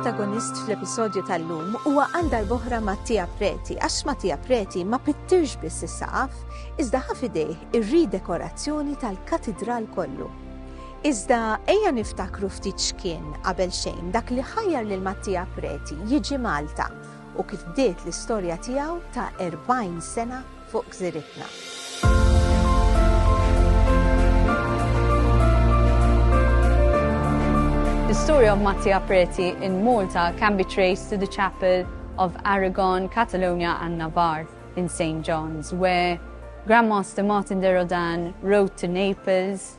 protagonist fl-episodju tal-lum huwa għal darboħra Mattia Preti, għax Mattia Preti ma pittirx biss is-saqaf, iżda ħafidejh ir-ridekorazzjoni tal-katidral kollu. Iżda ejja niftakru ftit x'kien, qabel xejn, dak li ħajjar lil Mattia Preti jiġi Malta u kif bdiet l-istorja tiegħu ta' 40 sena fuq gżiritna. The story of Mattia Preti in Malta can be traced to the chapel of Aragon, Catalonia and Navarre in St. John's, where Grandmaster Martin de Rodan wrote to Naples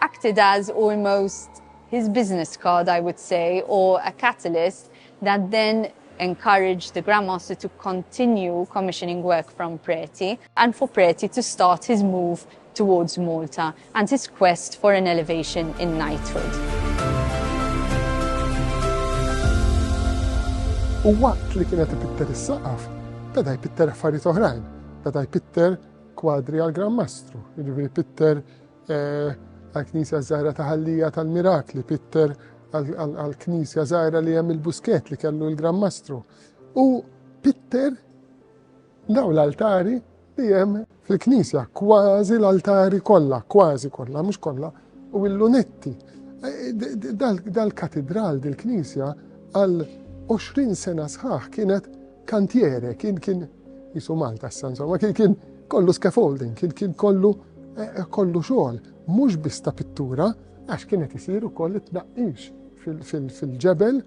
acted as almost his business card, I would say, or a catalyst that then encouraged the Grand Master to continue commissioning work from Preti, and for Preti to start his move towards Malta and his quest for an elevation in knighthood. U waqt li kienet ipitter is-saqaf, beda jpitter affarijiet oħrajn, beda jpitter kwadri għal Gran Mastru, jiġifieri pitter għall-Knisja Żgħira ta' Ħallija tal-Mirakli, Pitter għall-Knisja Żgħira li hemm il-Busket li kellu l-Gran Mastru. U Pitter daw l-altari li hemm fil-Knisja, kważi l-altari kollha, kważi kollha, mhux kollha, u l-lunetti. Dal-katidral, dil-Knisja, għal 20 sena sħaħ kienet Kantiere kien kien jisu Malta s insomma kien kien kollu scaffolding, kien kien kollu eh, eh, kollu xogħol, mhux biss ta' pittura, għax kienet isir ukoll it-tnaqqix fil-ġebel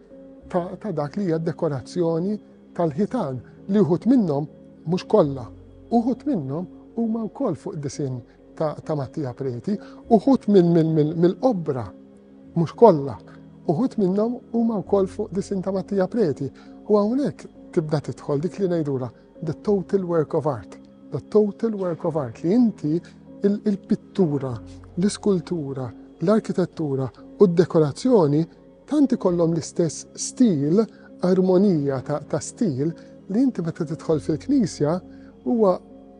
ta' dak li hija dekorazzjoni tal-ħitan li uħut minnhom mhux kollha, uħut minnhom huma wkoll fuq disin ta' Mattia Preti, uħut mill-obra, mhux kollha, uħut minnhom huma wkoll fuq disin ta' Mattia Preti. U hawnhekk tibda tidħol dik li ngħidula the total work of art. The total work of art li inti il-pittura, l-iskultura, l-arkitettura u d-dekorazzjoni tanti kollhom l-istess stil, armonija ta' stil li inti meta tidħol fil-knisja huwa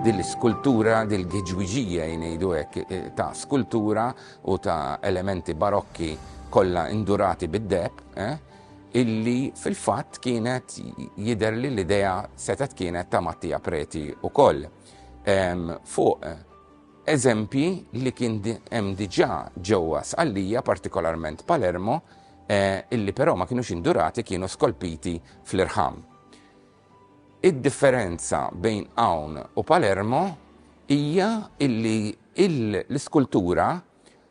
Din l-iskultura, din l-giġwiġija ngħidu hekk, ta' skultura u ta' elementi barokki kollha indurati bid-deheb, illi fil-fatt kienet jidher li l-idea setgħet kienet ta' Mattia Preti wkoll, fuq eżempji li kien hemm diġà ġewwa Sqallija, partikolarment Palermo, illi però ma kinux indurati, kienu skolpiti fl-irħam. Id-differenza bejn hawn u Palermo hija illi l-iskultura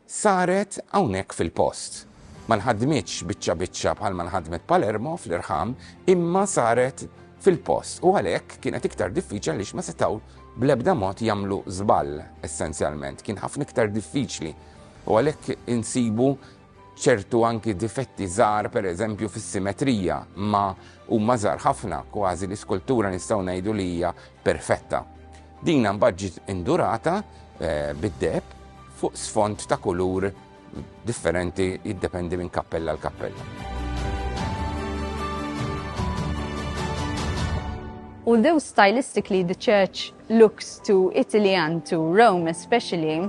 saret hawnhekk fil-post. Ma nħadmitx biċċa biċċa bħalma nħadmet Palermo fl-irħam imma saret fil-post u għalhekk kienet iktar diffiċli għaliex ma setgħu bl-ebda mod jagħmlu żball essenzjalment. Kien ħafna iktar diffiċli u għalhekk insibu Ċertu anki difetti żgħar, pereżempju fis-simetrija, ma huma żgħar ħafna, kważi l-iskultura nistgħu ngħidu li hija perfetta. Din mbagħad ġiet indurata eh, bid-deb fuq sfond ta' kulur differenti jiddependi minn kappella l kappella. Although stylistically the church looks to Italy and to Rome especially,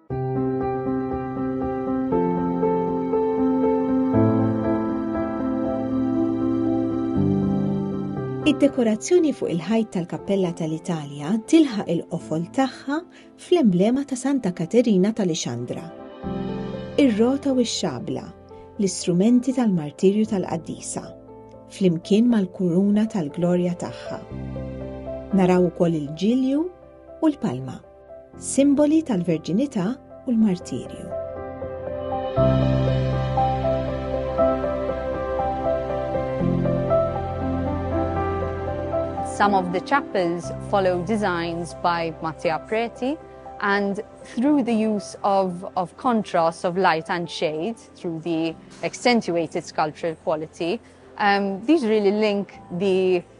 Id-dekorazzjoni fuq il-ħajt tal-Kappella tal-Italja tilħaq il-qofol tagħha fl-emblema ta' Santa Katerina tal-Ixandra. Ir-rota u x-xabla, l-istrumenti tal-martirju tal-qaddisa, flimkien mal-kuruna tal-glorja tagħha. Naraw ukoll il-ġilju u l-palma. Simboli tal-Verġinità u l-Martirju. Some of the chapels follow designs by Mattia Preti and through the use of, of contrast of light and shade, through the accentuated sculptural quality, um, these really link the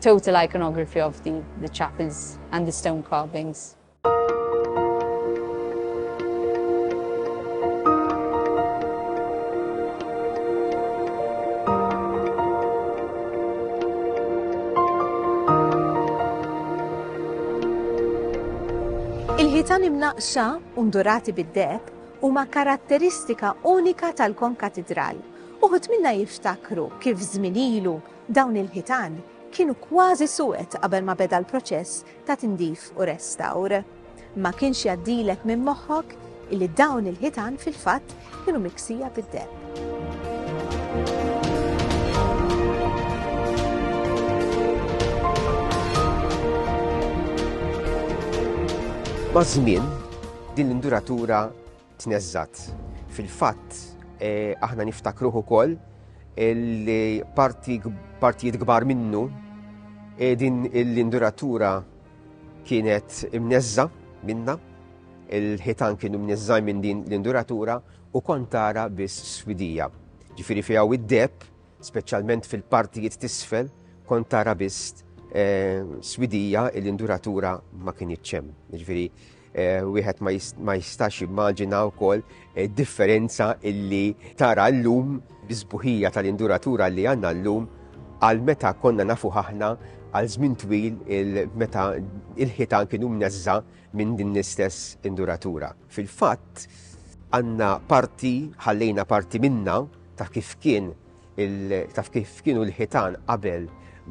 Total iconography of the the chapels and the stone carvings. Il-ħitan imnaqxa u ndurati bid-deb huma karatteristika unika tal-Kon Katidral. Uħud minna jiftakru kif żminilu Dawn il-ħitan kienu kważi suwed qabel ma beda l-proċess ta' tindif u restawr. Ma kienx jgħaddilek minn moħħok illi dawn il-ħitan fil-fatt kienu miksija bid-demm. Maż-żmien, din l-induratura tneżżgħet. Fil-fatt, aħna niftakruh ukoll li partijiet kbar minnu din l-induratura kienet imneżża minna, il-ħitan kienu mneżżaj minn din l-induratura u kontara biss swidija. Ġifiri fiha u id-deb, speċjalment fil-partijiet tisfel, kontara biss eh, swidija l-induratura ma kien iċċem. Ġifiri, Wieħed ma jistax jimmaġina wkoll differenza illi tara llum biżbuħija tal-induratura li għandna llum għal meta konna nafu ħahna għal żmien twil meta il-ħitan kienu mneżża minn din l-istess induratura. Fil-fatt għandna parti ħallejna parti minna ta' kif kien taf kif kienu l-ħitan qabel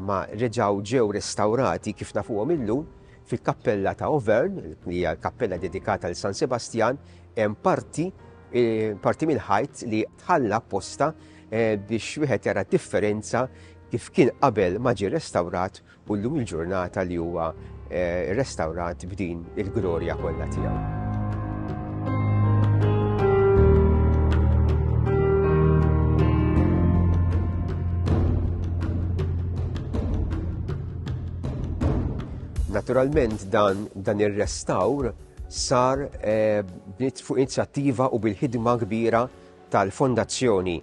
ma reġaw ġew restawrati kif nafuhom illum fil-kappella ta' Overn, li hija l-kappella dedikata l San Sebastjan, hemm parti eh, parti mill-ħajt li tħalla posta eh, biex wieħed jara differenza kif kien qabel ma ġie restawrat u llum il-ġurnata li huwa rrestawrat b'din il-glorja kollha tiegħu. Naturalment dan, dan ir-restawr sar eh, fuq inizjattiva u bil-ħidma kbira tal-fondazzjoni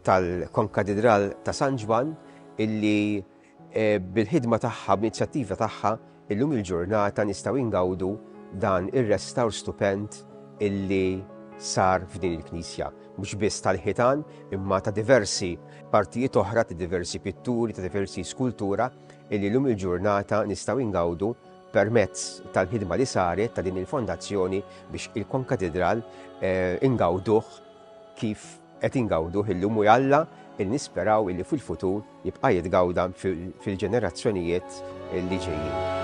tal-Konkatedral ta' San Ġwan illi Bil-ħidma tagħha, bl-inizjattiva tagħha, illum il-ġurnata nistgħu ingawdu dan ir-restawr stupend illi sar f'din il-knisja. Mhux biss tal-ħitan, imma ta' diversi partijiet oħra, ta' diversi pitturi, ta' diversi skultura illi llum il-ġurnata nistgħu ingawdu permezz tal-ħidma li saret ta' din il-fondazzjoni biex il-konkatidral ingawduh kif Qed ingawduh illum u jalla li nisperaw illi fil-futur jibqa' jitgawda fil-ġenerazzjonijiet li ġejjin.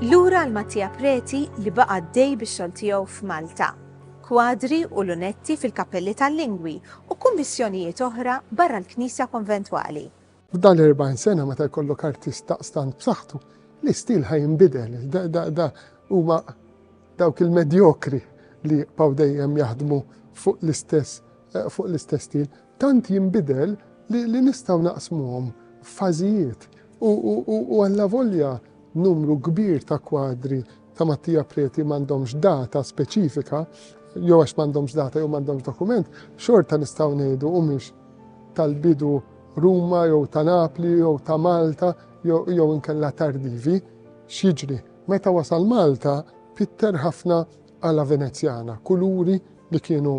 Lura għal Mattia Preti li baqa' għaddej bix-xogħol tiegħu f'Malta. Kwadri u lunetti fil-kappelli tal-lingwi u kummissjonijiet oħra barra l-Knisja Konventwali. F'dan l-40 sena meta jkollok artist daqstant b'saħħtu, l-istil ħa jinbidel. Da huma dawk il-medjokri li jibqgħu dejjem jaħdmu fuq l-istess eh, fuq l-istess stil, tant jinbidel li, li nistgħu naqsmuhom f'fażijiet u għalla volja numru kbir ta' kwadri ta' Mattia Preti m'għandhomx data speċifika, jew għax m'għandhomx data jew m'għandhomx dokument, xorta nistgħu ngħidu humiex tal-bidu Ruma jew ta' Napli jew ta' Malta jew inkella tardivi, x'jiġri. Meta wasal Malta, pitter ħafna għala Venezjana, kuluri li kienu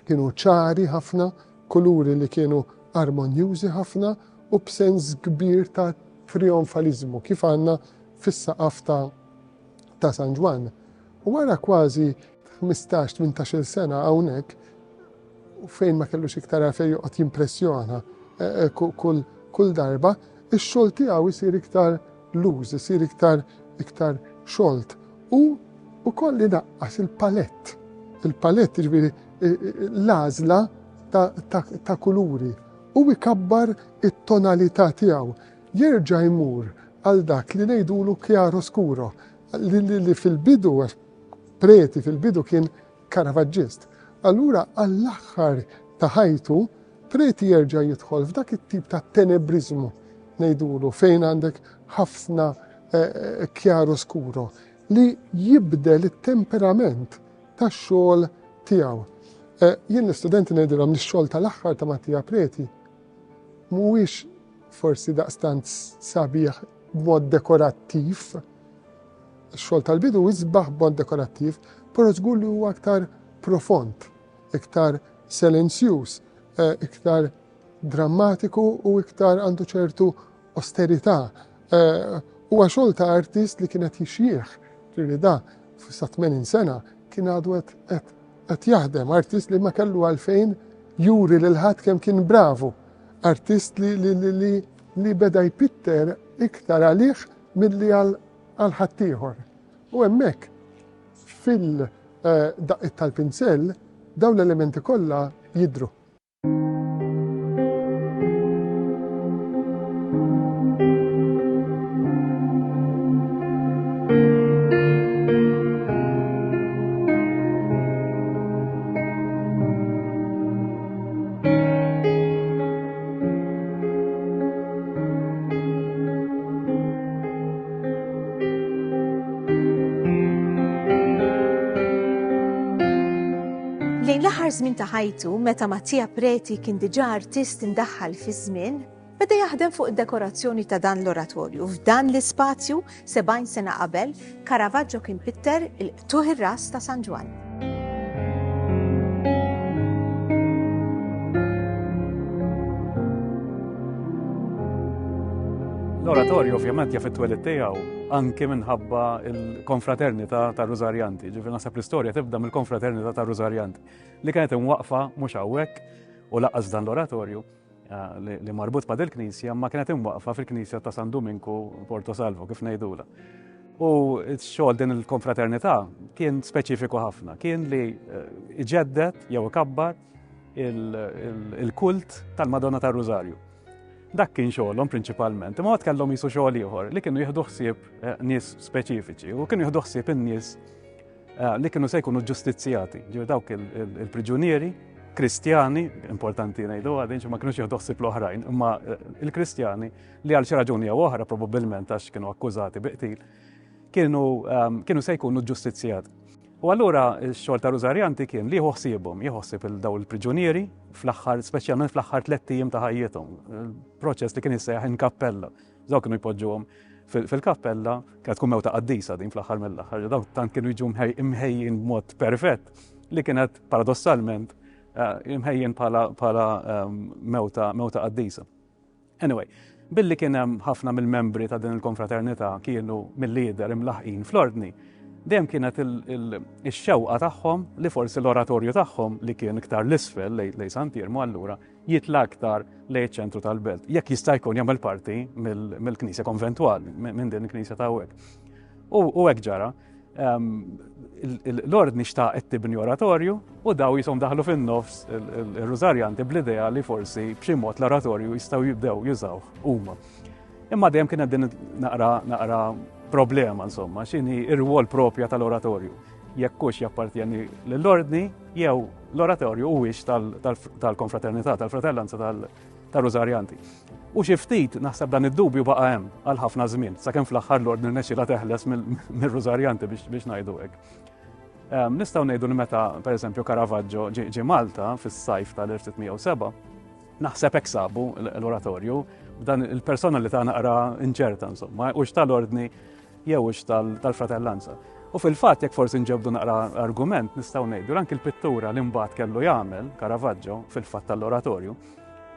Kienu ċari ħafna, kuluri li kienu armonjużi ħafna u b'sens kbir ta' trijonfaliżmu kif għandna fis-saqaf ta' ta' San Ġwann. U wara kważi 15-18-il sena hawnhekk fejn ma kellux iktar għalfejn joqgħod jimpressjona eh, eh, kull darba, ix-xogħol tiegħu jsir iktar Loose, isir iktar iktar xolt u ukoll inaqqas il-palett. Il-palett ġifieri l-għażla ta' kuluri u ikabbar it-tonalità tiegħu. Jerġa' jmur għal dak li ngħidulu chiaro scuro li fil-bidu preti fil-bidu kien Karavaġġist, allura għall-aħħar ta' ħajtu Preti jerġa' jidħol f'dak it-tip ta' tenebriżmu, ngħidulu, fejn għandek ħafna chiaro scuro, li jibdel it-temperament tax-xogħol tiegħu. Eh, jien l-istudenti ngħidilhom li x-xogħol tal-aħħar ta' Mattia Preti mhuwiex forsi daqstant sabiħ b'mod dekorattiv, Ix-xogħol tal-bidu jisbaħ b'mod dekorattiv, però żgur li huwa iktar profond, iktar selenzjuż, iktar drammatiku u iktar għandu ċertu osterità. Huwa xogħol ta' artist li kien qed jixjieħ, ġifieri da sa 80 sena kien għadu qed qed jaħdem, artist li ma kellu għalfejn juri lil ħadd kemm kien bravu, artist li li li li beda jpitter iktar għalih Milli għal ħaddieħor. U hemmhekk, fil-daqqiet tal-pinsell, dawn l-elementi kollha jidhru. Lejn l-aħħar żmien ta' ħajtu, meta Mattia Preti kien diġà artist indaħħal fiż-żmien, beda jaħdem fuq id-dekorazzjoni ta' dan l-oratorju. F'dan l-ispazju 70 sena qabel, Caravaggio kien pitter il-qtugħ ir-ras ta' San Ġwann. l-oratorju ovvjament jaf it-twelid tiegħu anke minħabba il-konfraternità ta' Rużarjanti. Ġifieri naħseb l-istorja tibda mill-konfraternità ta' Rużarjanti li kienet imwaqfa mhux hawnhekk u laqas dan l-oratorju li marbut ma' dil-knisja ma kienet imwaqfa fil-knisja ta' San Duminku Porto Salvo, kif ngħidula. U xogħol din il-konfraternità kien speċifiku ħafna, kien li eh, iġeddet jew ikabbar il-kult tal-Madonna tar-Rużarju. Dak kien xogħolhom prinċipalment, imma għad kellhom jisu xogħol ieħor li kienu jieħdu ħsieb eh, nies speċifiċi u kienu jieħdu ħsieb in-nies Eh, li kienu se jkunu ġustizzjati, ġir dawk il-priġunieri kristjani, importanti ngħidu għadin, ma kienux jieħdu ħsib l-oħrajn, imma eh, il-kristjani li għal xi raġuni jew oħra probabbilment għax kienu akkużati biqtil, kienu ehm, kienu se jkunu ġustizzjati. U allura x-xogħol ta' Rużarjanti kien li jħossibhom, jħossib il-daw il-priġunieri fl-aħħar, speċjalment fl-aħħar tliet tim ta' ħajjithom, proċess li kien jissejjaħ in kappella. Dawk kienu jpoġġuhom fil-kappella, kienet tkun mewta qaddisa din fl-aħħar mill-aħħar, dawk tant kienu jiġu mħejjin b'mod perfett li kienet paradossalment eh, mħejjin bħala ehm, mewta mewta qaddisa. Anyway, billi kien hemm ħafna mill-membri ta' din il-konfraternità kienu mill-lider imlaħqin fl-ordni, dejjem kienet il-xewqa tagħhom li forsi l-oratorju tagħhom li kien iktar l-isfel lej San Pirmu allura jitla' aktar lejn iċ-ċentru tal-belt. Jekk jista' jkun jagħmel parti mill-Knisja Konventwali, minn din il-Knisja ta' hekk. U hekk ġara. Ehm, l-ordni xtaqet tibni oratorju u daw jisom daħlu fin-nofs il-Rużarjanti bl-idea li forsi b'xi mod l-oratorju jistgħu jibdew jużaw huma. Imma dejjem kienet din naqra naqra problema insomma, x'inhi ir-rwol propja tal-oratorju. Jekk hux jappartjeni lill-ordni jew L-oratorju huwiex tal-konfraternità, tal-fratellanza tal-Rużarjanti. U xi ftit naħseb dan id-dubju baqa' hemm għal ħafna żmien, sakemm fl-aħħar l-ordni nexxilha teħles mir-Rużarjanti biex ngħidu hekk. Ehm, nistgħu ngħidu li meta, pereżempju, Caravaggio ġie Malta fis-sajf tal-1607, naħseb hekk sabu l-oratorju b'dan il-personalità naqra inċerta, insomma, u tal-ordni jew hux tal-fratellanza. U fil-fatt jekk forsi nġebdu naqra argument nistgħu ngħidu anki l-pittura li mbagħad kellu jagħmel Caravaggio fil-fatt tal-oratorju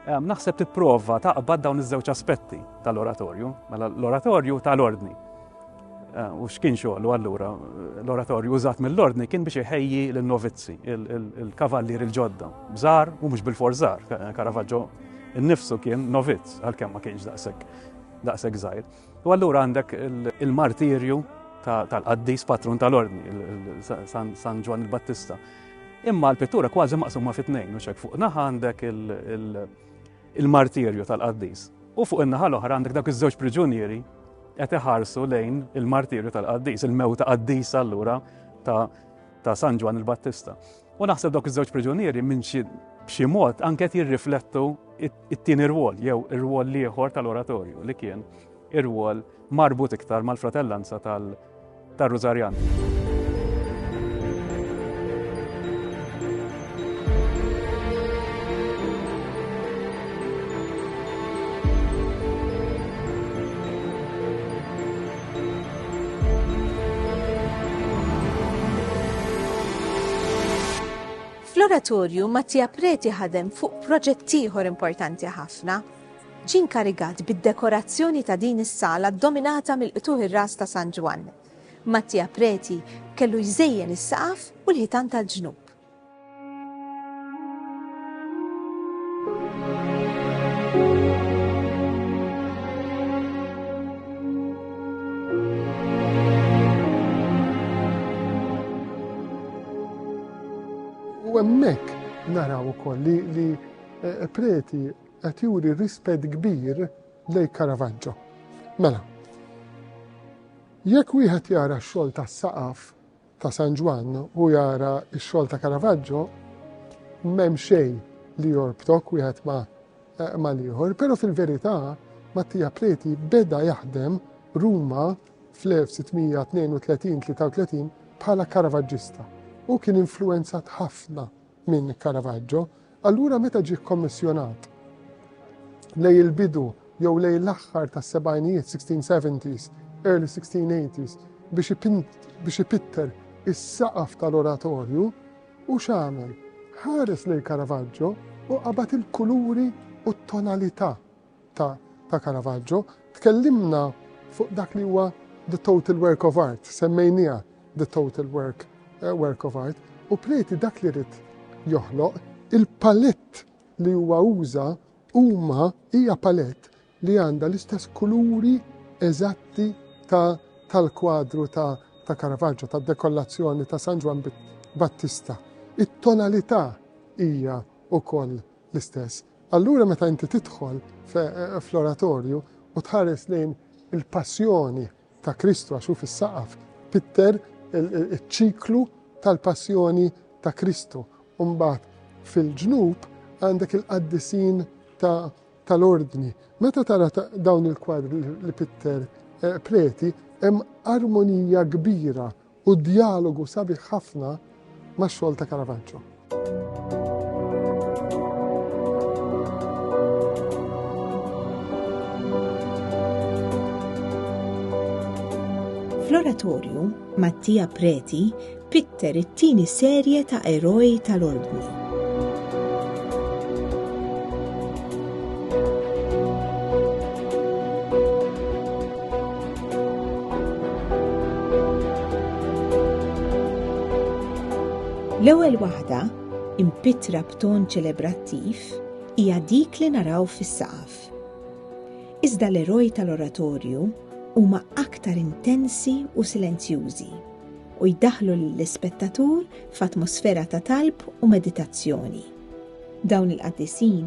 Ehm, naħseb tipprova taqbad dawn iż-żewġ aspetti tal-oratorju, mela l-oratorju tal-ordni. Ehm, u x'kien xogħlu allura l-oratorju użat mill-ordni kien biex iħejji l-novizzi, il-kavallier il-ġodda, bżar u mhux bil-forzar, Karavaġġo innifsu kien novizz għalkemm ma kienx daqshekk daqshekk żgħir. U allura għandek il-martirju tal-qaddis patrun tal-ordni, San Ġwan il-Battista. Imma l-pittura kważi maqsuma fit-tnejn, u xek fuq naħa għandek il-martirju tal-qaddis. U fuq in-naħa l-oħra għandek dak iż-żewġ priġunieri qed iħarsu lejn il-martirju tal-qaddis, il-mewta qaddis allura ta' San Ġwan il-Battista. U naħseb dawk iż-żewġ priġunieri minn xi b'xi mod anke qed jirriflettu it-tieni rwol jew ir-rwol l-ieħor tal-oratorju li kien ir-rwol marbut iktar mal-fratellanza tal-Rużarjan. Fl-Oratorju, Mattia Preti ħadem fuq proġett ieħor importanti ħafna. Ġie nkarigat bid-dekorazzjoni ta' din is-sala ddominata mill-qtuħ ir-ras ta' San Ġwann. Mattia Preti kellu jżejjen is-saqaf u l-ħitan tal-ġnub. U hemmhekk naraw ukoll li, li eh, preti qed juri rispett kbir lej Caravaggio. Mela, jekk wieħed jara x-xogħol tas-saqaf, ta' San Ġwann u jara x-xogħol ta' Caravaggio, m'hemm xejn li jorbtok wieħed ma' eh, mal-ieħor, però fil-verità Mattia Preti beda jaħdem Ruma fl-1632-33 bħala Caravaggista u kien influenzat ħafna minn Caravaggio Allura meta ġie kkommissjonat lejn il-bidu jew lejn l-aħħar tas-sebgħinijiet, 1670s, early 1680s, biex ipitter is-saqaf tal-oratorju, hu x'għamel? Ħares lejn Caravaggio u qabad il-kuluri u t-tonalità. ta' ta' Caravaggio, tkellimna fuq dak li huwa the total work of art, semmejniha the total work, uh, work of art, u Preti dak li rrit joħloq, il-palett li huwa uża huma hija palett li għandha l-istess kuluri eżatti ta' tal-kwadru ta' ta' Caravaggio, ta' dekollazzjoni ta' San Ġwan Battista. It-tonalità hija ukoll l-istess. Allura meta inti tidħol fl-oratorju u tħares lejn il-passjoni ta' Kristu għax hu fis-saqaf, pitter iċ-ċiklu tal-passjoni ta' Kristu. U mbagħad fil-ġnub għandek il-qaddisin tal-ordni. Meta tara dawn il-kwadri li pitter eh, preti, hemm armonija kbira U djalogu sabiħ ħafna ma' xogħol ta' Caravaggio. Fl-oratorju, Mattia Preti pitter it-tieni serje ta' eroj tal-ordni. L-ewwel waħda, impitra b'ton ċelebrattiv, hija dik li naraw fis-saqaf. Iżda l-eroj tal-oratorju huma aktar intensi u silenzjużi u jdaħlu lill-ispettatur f'atmosfera ta' talb u meditazzjoni. Dawn il-qaddisin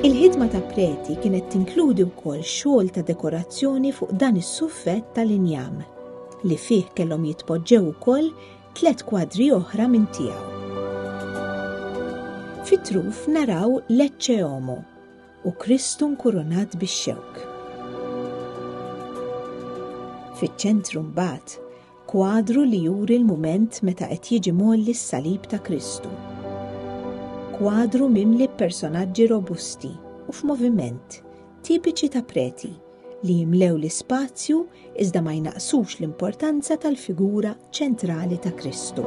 Il-ħidma ta' preti kienet tinkludi wkoll xogħol ta' dekorazzjoni fuq dan is-suffett tal-injam, li fih kellhom jitpoġġew ukoll tliet kwadri oħra minn tiegħu. Fit-truf naraw l-Ecce Homo u Kristu nkurunat bix-xewk. Fiċ-ċentru mbagħad Kwadru li juri l-mument meta qed jiġi mgħolli s-salib ta' Kristu. Kwadru mimli b'personaġġi robusti u f'moviment, tipiċi ta' preti, li jimlew l-ispazju iżda ma jnaqqsux l-importanza tal-figura ċentrali ta' Kristu.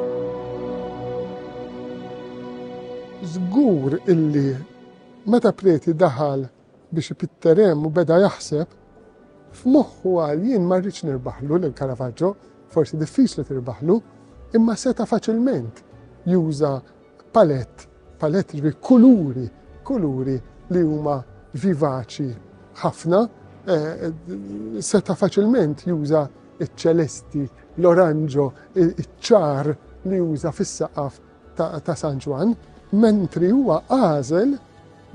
Żgur illi meta preti daħal Biex ipitter hemm u beda jaħseb. F'moħħu qal jien ma rridx nirbaħlu lil Caravaggio, forsi diffiċli tirbaħlu, imma seta' faċilment juża palett, palett jiġri kuluri, kuluri li huma vivaċi ħafna, seta' faċilment juża ċ-ċelesti, l-oranġo, iċ-ċar li juża fis-saqaf ta' San Ġwann, mentri huwa għażel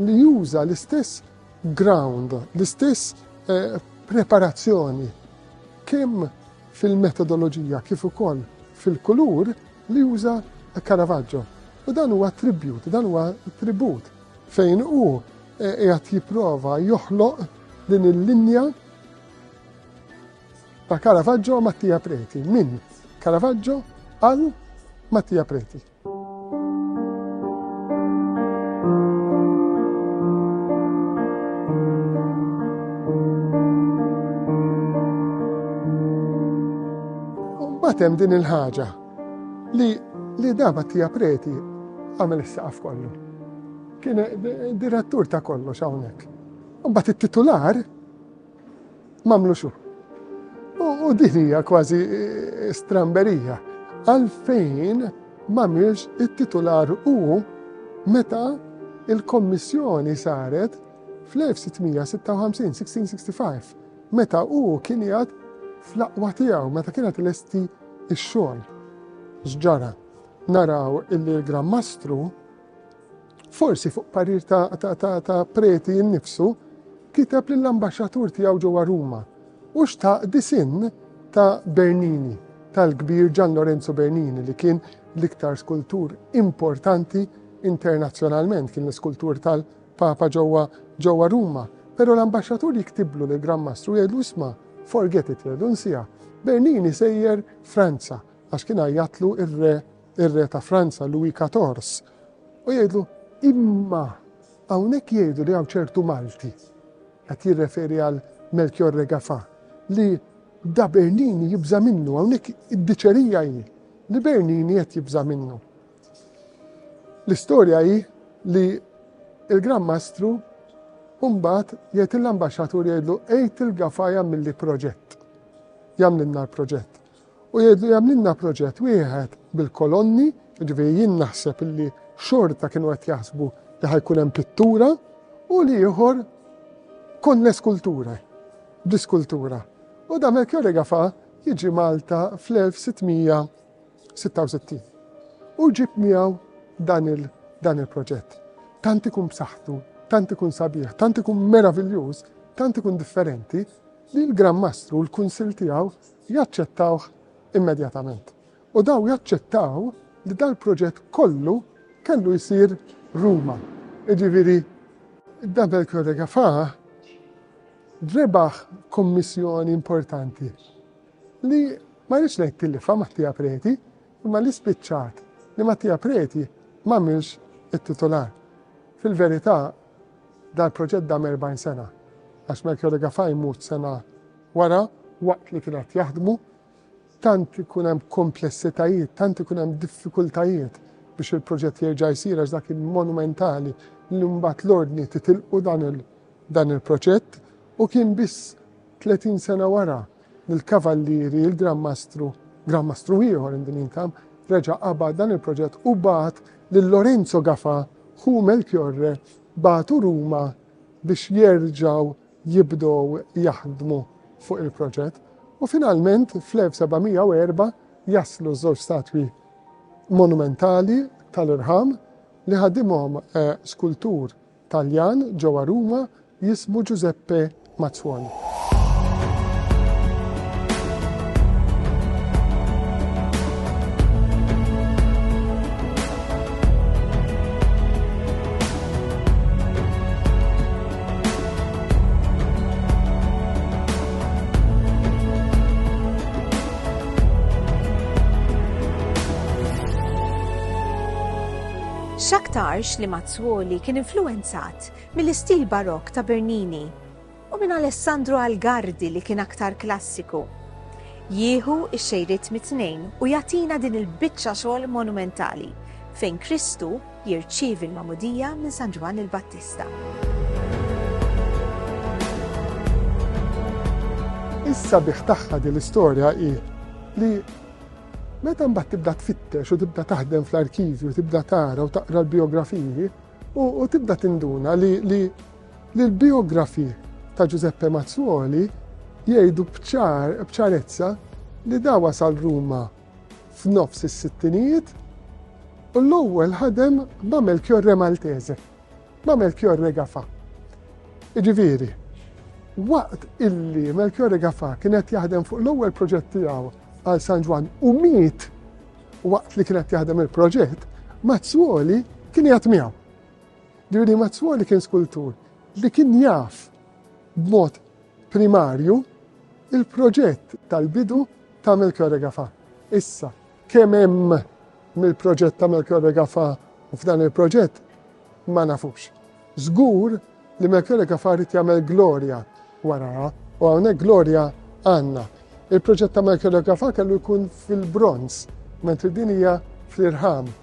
li juża l-istess ground, l-istess eh, preparazzjoni, kemm fil-metodoloġija kif ukoll fil-kulur li juża Caravaggio. U dan huwa tribut, dan huwa tribut fejn hu eh, qiegħed jipprova joħloq din il-linja ta' Caravaggio u Mattia Preti, minn Caravaggio għal Mattia Preti. Batem din il-ħaġa li li daba tija preti għamel is-saqaf kollu. Kien direttur ta' kollox hawnhekk. U bat it-titular Mamlu xu. U din hija kważi eh, stramberija. Għalfejn mamilx it-titular u meta il-Kommissjoni saret fl-1656-1665 meta u kien jgħat fl-aqwa tiegħu meta kienet lesti ix-xogħol. X'ġara? Naraw illi l-Gran Mastru Forsi fuq parir ta' preti nnifsu, kiteb lill-ambaxxatur tiegħu ġewwa Ruma u xtaq disinn ta' Bernini, tal-kbir Gian Lorenzo Bernini li kien l-iktar skultur importanti internazzjonalment, kien l-iskultur tal-Papa ġewwa Ruma. Però l-ambaxxatur jiktiblu lill-Gran Mastru jgħidlu isma' forget it jgħidlu nsiha, Bernini sejjer Franza għax kien għajjatlu r-re ir-Re ta' Franza Louis Quatorze u jgħidlu, Imma hawnhekk jgħidu li hawn ċertu Malti, qed jirreferi għal Melchiorre Gaffà, li da Bernini jibża' minnu, hawnhekk id-diċerija hi li Bernini qed jibża' minnu. L-istorja hi li l-Gran Mastru Umbat jgħid il-ambaxxatur jgħidlu għid il-Gafaja milli proġett. Jagħmlilna l-proġett. U jgħidlu jagħmlilna proġett wieħed bil-kolonni, jiġifieri jien naħseb li xorta kienu qed jaħsbu li ħajkun hemm pittura u l-ieħor kon l-eskulture, bl-iskultura. U da Melchiorre Gafa jiġi Malta fl-1666. U ġib miegħu dan il- dan il-proġett. Tant ikun b'saħħtu, tant ikun sabiħ, tant ikun meraviljuż, tant ikun differenti li l-Gran Mastru, l-Kunsil tiegħu jaċċettawh immedjatament. U dawn jaċċettaw li dal-proġett kollu kellu jsir Ruma. Jiġifieri Dabel Crodegafà rebaħ kummissjoni importanti li ma rridx ngħid tilifha Mattia Preti, imma li spiċċat li Mattia Preti m'għamilx it-titular. Fil-verità dal-proġett dam 40 sena għax Melchiorre Gaffà jmut sena Wara, waqt li kien qed jaħdmu, tant ikun hemm komplessitajiet, tant ikun hemm diffikultajiet biex il-proġett jerġa' jsir għax dak kien monumentali li mbagħad l-Ordni titilqu dan il-proġett u kien biss 30 sena wara li l-Kavallieri, il-Gran Mastru, Gran Mastru ieħor in the meantime, reġa' qabad dan il-proġett u bagħat lil Lorenzo Gafà, ħu Melchiorre, bagħtu Ruma biex jerġgħu jibdew jaħdmu fuq il-proġett u finalment fl-1704 jaslu ż-żewġ statwi monumentali tal-irħam li ħadimhom skultur Taljan ġewwa Ruma jismu Giuseppe Mazzuoni. X'aktarx li Mazzuoli kien influenzat mill-istil barokk ta' Bernini u minn Alessandro Algardi li kien aktar klassiku. Jieħu x-xejriet mit-tnejn u jagħtina din il-biċċa xogħol monumentali fejn Kristu jirċievi l-magħmudija minn San Ġwann il-Battista. Is-sabiħ tagħha din l-istorja hi li meta mbagħad tibda tfittex u tibda taħdem fl-arkivju, tibda tara u taqra l-biografiji u tibda tinduna li l-biografi ta' Giuseppe Mazzuoli jgħidu bċarezza li da wasal Ruma f'nofs is-sittinijiet u l-ewwel ħadem ma' Melchiorre Maltese, ma' Melchiorre Gafa. Iġifieri, waqt illi Melchiorre Gafa kien qed jaħdem fuq l-ewwel proġett tiegħu għal San Ġwan u miet waqt li kien qed jaħdem il-proġett, Mazzuoli kien jgħat miegħu. Ġifieri Mazzuoli kien skultur li kien jaf b'mod primarju, il-proġett tal-bidu ta' Melchior Regafa. Issa, kemm hemm mill-proġett ta' Melchior Regafa u f'dan il-proġett ma nafux. Żgur li Melchior Regafa rrid jagħmel glorja waraha u hawnhekk glorja għandna. Il-proġett ta' Melchior Regafa kellu jkun fil-bronz, mentri din hija fl-irħam.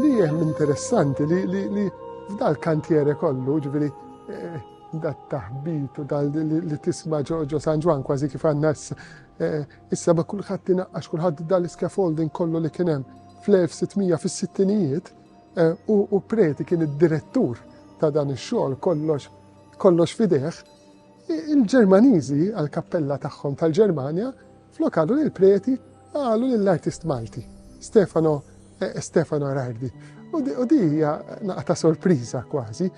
Li hemm interessanti li li f'dal kantiere kollu, ġifieri eh, dat taħbit u dal li tisma' ġo San Ġwan kważi kif għandna eh, issa ma kulħadd inaqqax kulħadd dal scaffolding kollu li kien hemm fl-1600 fis-sittinijiet eh, u preti kien id-direttur ta' dan ix-xogħol kollox kollox fideħ, il-Ġermaniżi għal-kappella tagħhom tal-Ġermanja Flok qalu lill-preti, qalu lill-artist Malti, Stefano Stefano Rardi. U di hija naqa ta' sorpriża kważi.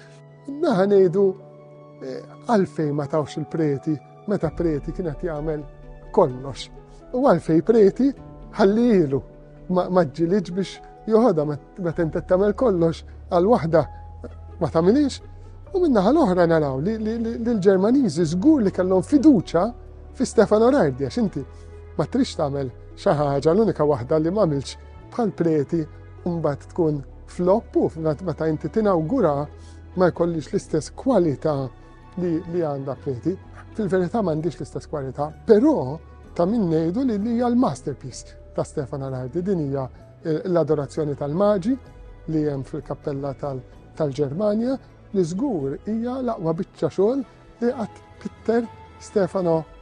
Naħa ngħidu għalfejn ma tawx il-preti meta preti kien qed jagħmel kollox. U għalfej preti ħallilu Ma ġġilidx biex joħodha meta inti tagħmel kollox għal waħda ma tagħmilix. U minnaħa l-oħra naraw li l-Ġermaniżi żgur li kellhom fiduċa fi Stefano Rardi għax inti ma trix tagħmel xi ħaġa l-unika waħda li m'għamilx bħal preti mbagħad tkun flop u meta inti tinawgura ma jkollix l-istess kwalità li, li għanda preti, fil-verità m'għandix l-istess kwalità, però ta' min ngħidu li hija l-masterpiece ta' Stefan Alardi, din hija eh, l-adorazzjoni tal-maġi li hemm fil-kappella tal-Ġermanja, li żgur hija l-aqwa biċċa xogħol li qatt Pitter Stefano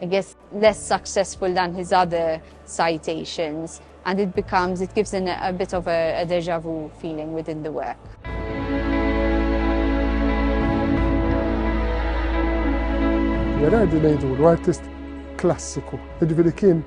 It gets less successful than his other citations and it becomes, it gives an, a bit of a, a deja vu feeling within the work. Gerardi ngħidulu artist klassiku, jiġifieri kien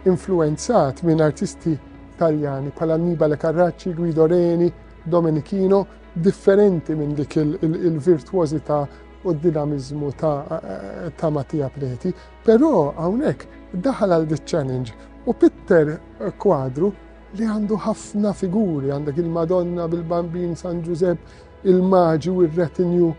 influenzat minn artisti Taljani bħala Annibale Carracci, Guido Reni, Domenichino, differenti minn dik il-virtuożità u d-dinamiżmu ta' Mattia Preti, però hawnhekk daħal għal di challenge u pitter kwadru li għandu ħafna figuri, għandek il-Madonna bil-Bambin San Ġużepp, il-Maġi u r-retinju,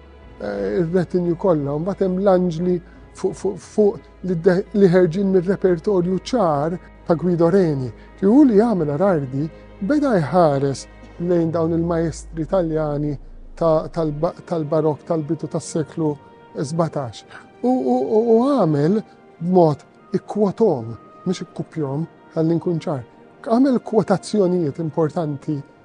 eh, ir-retinju kollha, mbagħad hemm l-anġli fuq li ħerġin mir-repertorju ċar ta' Guido Reni, li hu li għamel Arardi beda jħares lejn dawn il-maestri Taljani tal-barokk tal-bidu tas-seklu 17. U għamel b'mod ikkwotom, mhux ikkupjom, ħalli nkun ċar. Għamel kwotazzjonijiet importanti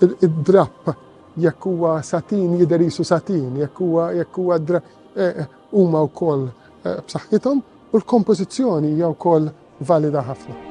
id-drapp, jekk huwa satin jidher qisu satin, jekk huwa jekk huwa huma wkoll b'saħħithom u l-kompożizzjoni hija wkoll valida ħafna.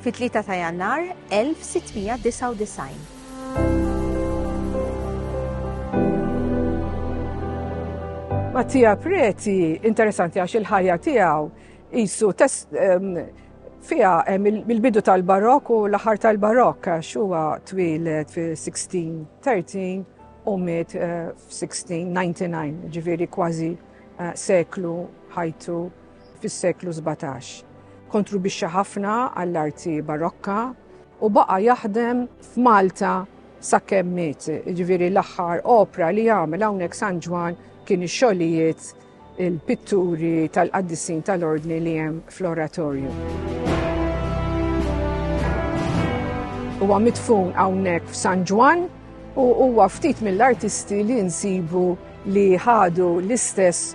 Fit-3 ta' Jannar 1699. Mattia Preti, interessanti għax il-ħajja tiegħu qisu ehm, fiha ehm, mill-bidu tal-barok u l-aħħar tal-barok għax huwa twieled fi 1613 u miet eh, f'1699, ġifieri kważi eh, seklu ħajtu fis-seklu sbatax. Kontribwixxa ħafna għall-arti Barokka u baqa' jaħdem f'Malta sakemm miet, jiġifieri l-aħħar opra li għamel hawnhekk San Ġwann kien ix-xogħlijiet il-pitturi tal-qaddisin tal-ordni li hemm fl-oratorju. Huwa mitfun hawnhekk f'San Ġwann u huwa ftit mill-artisti li nsibu li ħadu l-istess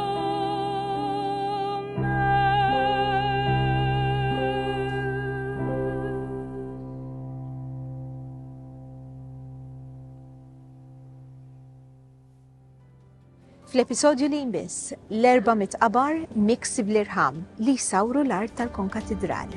Fl-episodju li jmiss, l-erba mitqabar miksi bl-irħam li jsawru l-art tal-konkatidral.